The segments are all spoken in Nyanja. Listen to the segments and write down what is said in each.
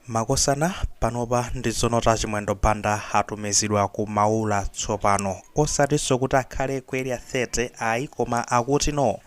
Makosana panopa ndi zonena Chimwendo Banda atumizidwa ku Maula tsopano. Osatinso kuti akhale ku Area 30 ayi koma akuti no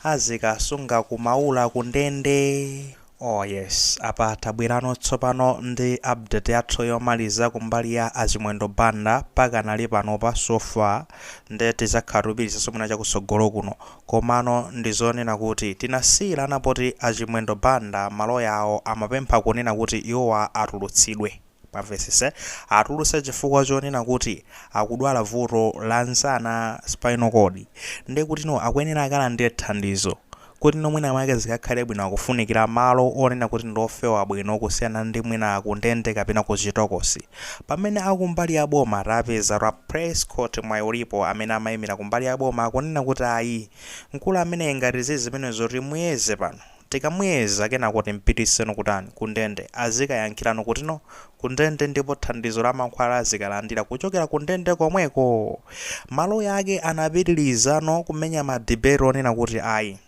azikasunga ku Maula ku ndende. Oh yes apa tabwerano tsopano ndi update yathu yomaliza kumbali ya a Chimwendo Banda pakanali panopa so far nde tizakhala tikupitirizaso mwina chakusogolo kuno. Komano ndi zonena kuti tinasiyirana poti a Chimwendo Banda maloya awo amapempha kunena kuti iwowa atulutsidwe. Mwamvesese? Atulutse chifukwa chonena kuti akudwala vuto la nsana, spinal cord. Nde kutino akuyenera akalandire thandizo. Kutino mwina mwake zikakhale bwino akufunikira malo onena kuti ndi ofewa bwino kusiyana ndi mwina kundende kapena ku chitokosi. Pamene akumbali ya boma tapeza a Prescott Mwayiulipo amene amaimira kumbali ya boma akunena kuti ayi mkulu ameneyi ngati zizimenezo timuyeze pano tikamuyeza kenako timpitiseno kutani kundende azikayankhirano kutino kundende ndipo thandizo la mankhwala azikalandira kuchokera kundende komweko maloya ake anapitiliza no kumenya ma debate onena kuti ayi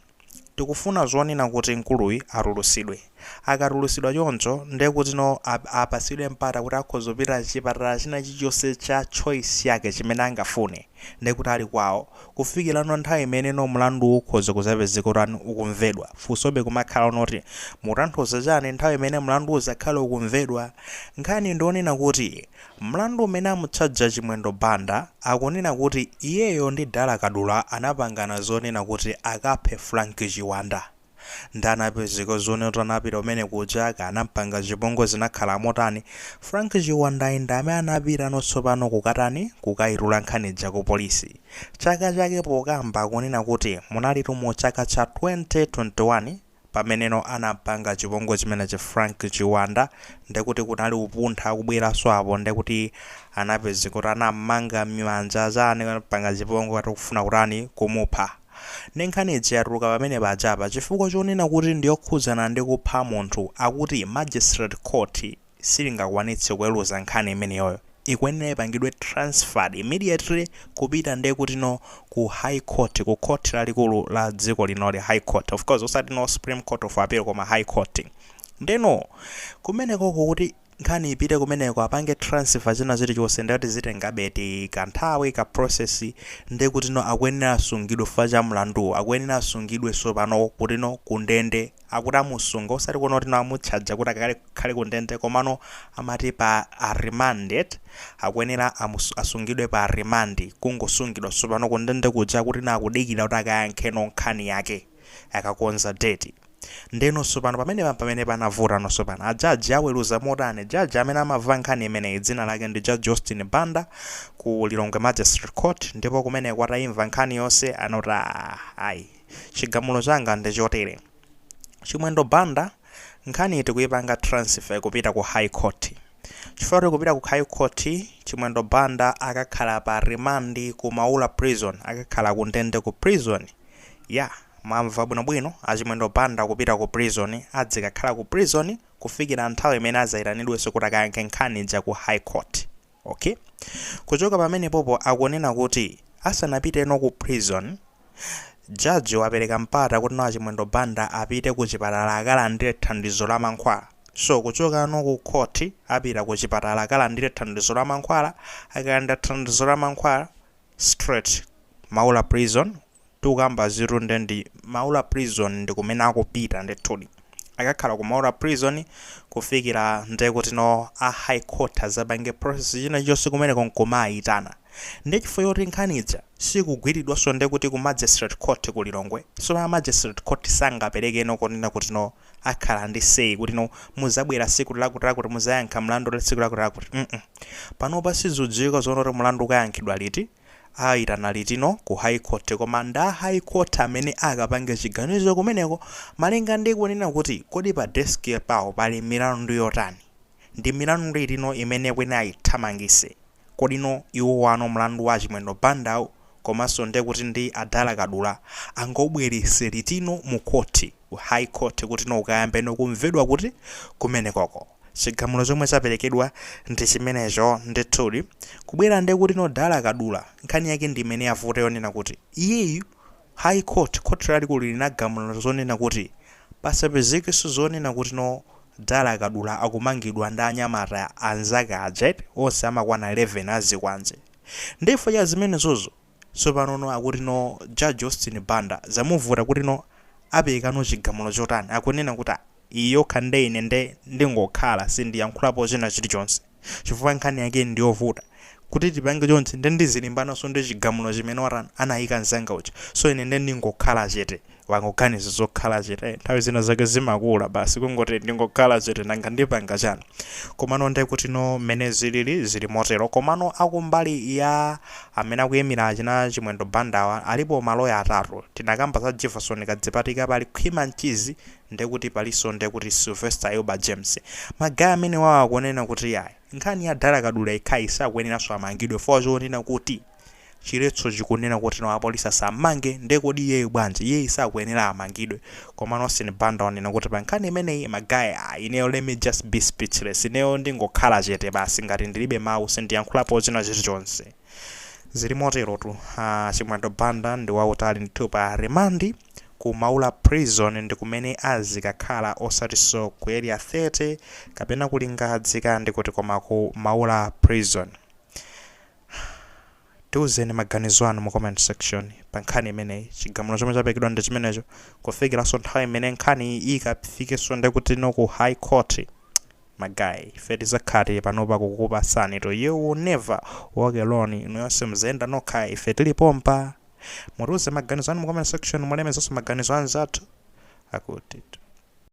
Tikufuna zonena kuti mkuluyi atulusidwe. Akatulusidwa choncho nde kuti no apasidwe mpata kuti akhoza kupita chipatala china chilichonse cha choice yake chimene angafune nde kuti ali kwawo kufikila no nthawi imene no mlanduwu ukhoza kuzapezeka kutani ukumvedwa. Funso be kumakhala no oti mukutanthauza chani nthawi imene mlandu uzakhale ukumvedwa? Nkhani ndiyonena kuti Mlandu umene amutchaja Chimwendo Banda akunena kuti iyeyo ndi Dala Kadula anapangana zonena kuti akaphe Frank Chiwanda. Nde anapezeka zonena kuti anapita kumene kuja kaya anampanga chipongwe zinakhala motani Frank Chiwandayi ndi amene anapita no tsopano kukatani kukayitula nkhani ija ku polisi. Chaka chake pokamba akunena kuti munalitu mu chaka cha 2021. pameneno anampanga chipongwe chimenechi Frank Chiwanda ndekuti kunali upuntha kubweraso apo ndekuti anapezeka kuti anamanga mmanja chani ampanga chipongwe ati akufuna kutani kumupha nde nkhani ija yatuluka pamene pajapa chifukwa chonena kuti ndiyokhudzana ndi kupha munthu akuti magistrate court silingakwanitse kuweluza nkhani imeneyoyo ikuyenera ipangidwe transferred immediately kupita nde kutino ku high court ku court lalikulu la dziko linoli high court of course osati no supreme court of appeal koma high court ndeno kumenekoko kuti nkhani ipite kumeneko apange transfer zina zilichonse nde ati zitengabe ti kanthawi ka process nde kutino akuyenera asungidwe chifukwa cha mlanduwo akuyenera asungidwe sopano kutino kundende akuti amusunga osati kunena kuti no amutchaja kuti akakhale ku ndende komano amati pa remand eti akuyenera asungidwe pa remand kungosungidwa sopano ku ndende kuja akuti no akudikira kuti akayankhe no nkhani yake akakonza date nde no sopano pamenepa mpamene panavuta no sopano a judge aweruza motani judge amene amava nkhani imeneyi dzina lake ndi judge Austin Banda ku Lilongwe Magistrate Court ndipo kumeneko ataimva nkhani yonse anoti aah ayi Chigamulo changa ndi chotere. Chimwendo Banda, nkhaniyi tikuipanga transfer kupita ku High Court. Chifukwa choti ikupita ku High Court, Chimwendo Banda akakhala pa remand ku Maula Prison, akakhala ku ndende ku prison ya, mwamva bwino bwino, a Chimwendo Banda kupita ku prison, adzikakhala ku prison kufikira nthawi imene adzaitanidwenso kuti akayankhe nkhani ija ku High Court. Ok kuchoka pamenepopo akunena kuti asanapite no ku prison Judge wapereka mpata kuti no achimwendo Banda apite ku chipatala akalandire thandizo la mankhwala so kuchoka no ku court apita ku chipatala akalandire thandizo la mankhwala akalandira thandizo la mankhwala straight maula prison tikukamba zitu nde ndi maula prison ndikumene akupita ndithudi akakhala ku maula prison kufikila nde kuti no a high court azapange process china chonse kumeneko nkumaayitana nde chifukwa choti nkhani ija sikugwilidwanso nde kuti ku magistrate court ku Lilongwe so ma magistrate court sangapeleke no konena kuti no akhala ndi say kuti no muzabwera siku lakuti lakuti muzayankha mlandu tsiku lakuti lakuti mm panopa sizudziwika zoona kuti mlandu ukayankhidwa liti Aitana litino ku high court koma ndi a high court amene akapange chiganizo kumeneko malinga ndi kunena kuti kodi pa desk pawo pali milandu yotani? Ndi milandu itino imene kwene ayithamangise? Kodino iwowano mlandu wa Achimwendo Bandawu komanso nde kuti ndi a Dala Kadula angaubwelese litino mu court ku high court kutino ukayambeno kumvedwa kuti kumenekoko? Chigamulo chomwe chaperekedwa ndi chimenecho. Ndithudi. Kubwera ndiye kuti no Dala Kadula, nkhani yake ndi imene yavuta yonena kuti, iyeyu, High Court, Khoti Lalikulu linagamula zonena kuti pasapezekenso zonena kuti no Dala Kadula akumangidwa ndi anyamata anzake aja eti, onse amakwana 11 a zikwanje. Ndiye chifukwa cha zimenezozo. Tsopano no akuti no judge Austin Banda zamuvuta kuti no apereka no chigamulo chotani akunena kuti ah iyi yokha nde ine nde ndingokhala sindiyankhulapo china chilichonse chifukwa nkhani yake ndiyovuta kuti tipange chonchi nde ndizilimbanaso ndi chigamulo chimene watani anayika mzanga uja so ine nde ndingokhala chete wangoganiza zokhala chete, nthawi zina zake zimakula basi kungoti ndingokhala chete nanga ndipanga chani? Komano ndekutino mmene zilili zili motero. Komano akumbali ya amene akuyimira achina Chimwendo Bandawa alipo maloya atatu. Tinakamba za Jefferson Kadzipatika, pali Khwima Mchizi ndekuti palinso ndekuti Sylvester Ayuba James. Ma guy amenewawa akunena kuti yayi, nkhani ya Dala Kadula yekhayi sakuyeneranso amangidwe chifukwa. Chonena kuti chiletso chikunena kuti no apolisi asammange nde kodi iyeyu bwanji iyeyu sakuyenera amangidwe komano Austin Banda wanena kuti pa nkhani imeneyi ma guy ah ineyo let me just be speechless ineyo ndingokhala chete basi ngati ndilibe mawu sindiyankhulapo china chilichonse zili moterotu a Chimwendo Banda ndi wautali ndithu pa remand ku Maula prison ndi kumene azikakhala osatiso ku area 30 kapena ku Lingadzi ka ndikuti koma ku Maula prison Tiuzeni maganizo anu mu comment section pa nkhani imeneyi. Chigamulo chomwe chapekedwa ndi chimenecho kufikiranso nthawi imene nkhaniyi ikafikenso ndekutino ku high court. Ma guy, ife tizakhala tili panopa kukupasani. You will never walk alone. Inu nonse simuzayenda nokha, ife tili pompa. Mutiuze maganizo anu mu comment section, mulemezenso maganizo a anzathu. Akuti.